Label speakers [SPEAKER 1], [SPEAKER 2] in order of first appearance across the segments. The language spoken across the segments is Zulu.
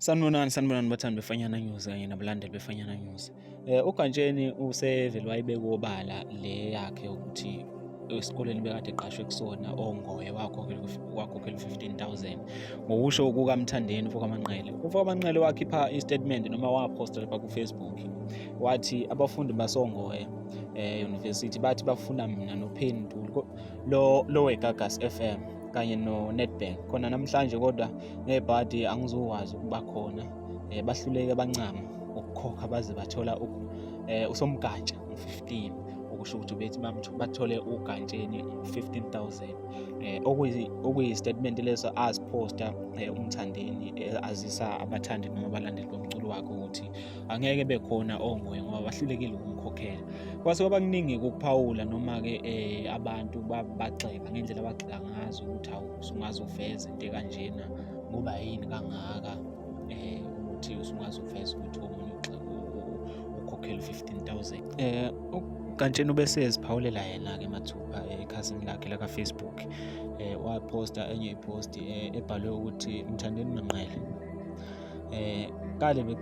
[SPEAKER 1] Sanibonani sanibonani bathandi befanyana news kanye nabalandeli befanyana news. Eh uGantsheni usevele wayibeka obala le yakhe ukuthi esikoleni bekade eqashwe kusona ongoye wakhokhela 15000 ngokusho kukamthandeni ufokamanqele ufokamanqele wakhipha istatement noma waposta lapha kufacebook wathi abafundi basongoye eh university bathi bafuna mina nopheni ntuli lo lo wegagas fm kanye no-netbank khona namhlanje kodwa ngebhadi angizokwazi ukuba khona um bahluleke bancama ukukhokha baze bathola um usomgatsha 15 okusho ukuthi bethi bathole ugantsheni 15000 eh okuyi statement leso aziphosta eh, umthandeni eh, azisa abathandi noma abalandeli bomculo wakhe ukuthi angeke bekhona onguye ngoba bahlulekile ukumkhokhela kwase kwabakuningi ukuphawula noma ke eh, abantu bagxeka ngendlela abagxeka ngazo ukuthi awu sungaze uveze into kanjena ngoba yini kangaka eh ukuthi usungwazi ukuveza ukuthi omunye ukhokhela u-15000 eh kantsheni ubese eziphawulela yena-ke mathupha eh, ekhasini lakhe lakafacebook um eh, waposta enye ipost um eh, ebhalwe ukuthi mthandeni manqele um kale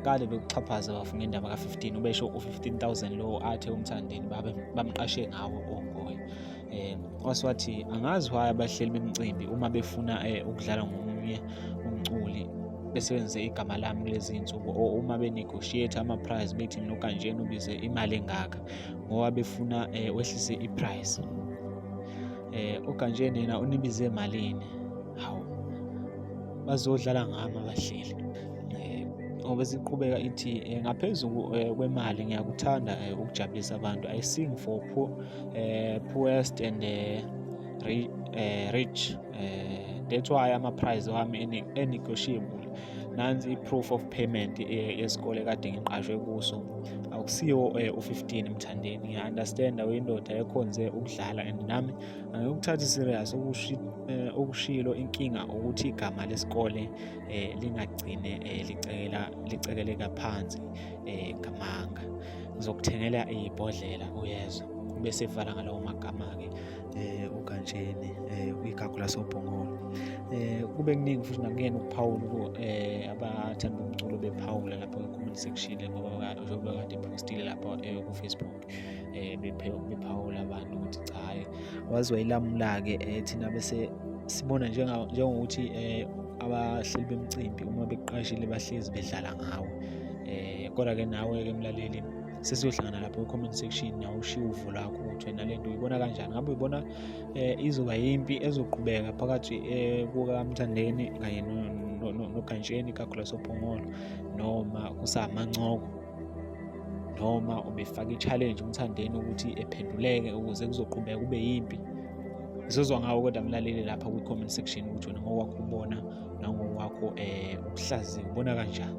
[SPEAKER 1] kale bekuxhaphaza bafu ngendaba ka-15 ubesho u-15000 lowo athe umthandeni bamqashe ngawo ongoye eh oswathi angazi why abahleli bemcimbi uma befuna eh, ukudlala ngomunye umculi besebenzise igama lami kulezi nsuku or uma benegotiate ama price bethi mina ukanjena ubize imali engaka ngoba befuna eh, wehlise i price eh ukanjena yena unibize malini hawu bazodlala ngami abahleli obesiqhubeka ithi eh, ngaphezulu eh, kwemali ngiyakuthanda eh, ukujabulisa abantu i sing for poor eh, poorest and eh, eh, rich eh, that's why ama prize wami enegotiable nansi i-proof of payment eh, yesikole kade ngiqashwe kuso akusiwo eh, u-15 mthandeni ngiya-understanda uyindoda ekhonze ukudlala and nami angikuthathi serious eh, okushilo inkinga ukuthi igama lesikole lingagcine licekeleka phansi ngamanga ngizokuthengela ibhodlela uyezwa bese evala ngalawo magama-ke um ugantsheni um eh, igagu lasobhongolo um eh, kube kuningi futhi nakuyena ukuphawula um eh, abathanda bomculo bephawula lapho kwi-comment section ngoba njengoba kade ephostile lapho kufacebook um bephawula abantu ukuthi cha hhayi waziwa ilamula-ke um thina bese sibona njengokuthi um abahleli bemcimbi uma beqashile bahlezi bedlala ngawo eh kodwa ke nawe ke mlaleli sesiyohlangana lapho comment section nawe ushiye uvo lakho ukuthi wena le nto uyibona kanjani ngabe uyibona eh izoba yimpi ezoqhubeka phakathi eh kukamthandeni kanye nogantsheni kagulaso phongolo noma kusamancoko noma ubefaka i-challenge umthandeni ukuthi ephenduleke ukuze kuzoqhubeka kube yimpi sizozwa ngawo kodwa mlaleli lapha kwi-comment section ukuthi wena ngokwakho ubona nangokwakho um eh, ubuhlaziya ubona kanjani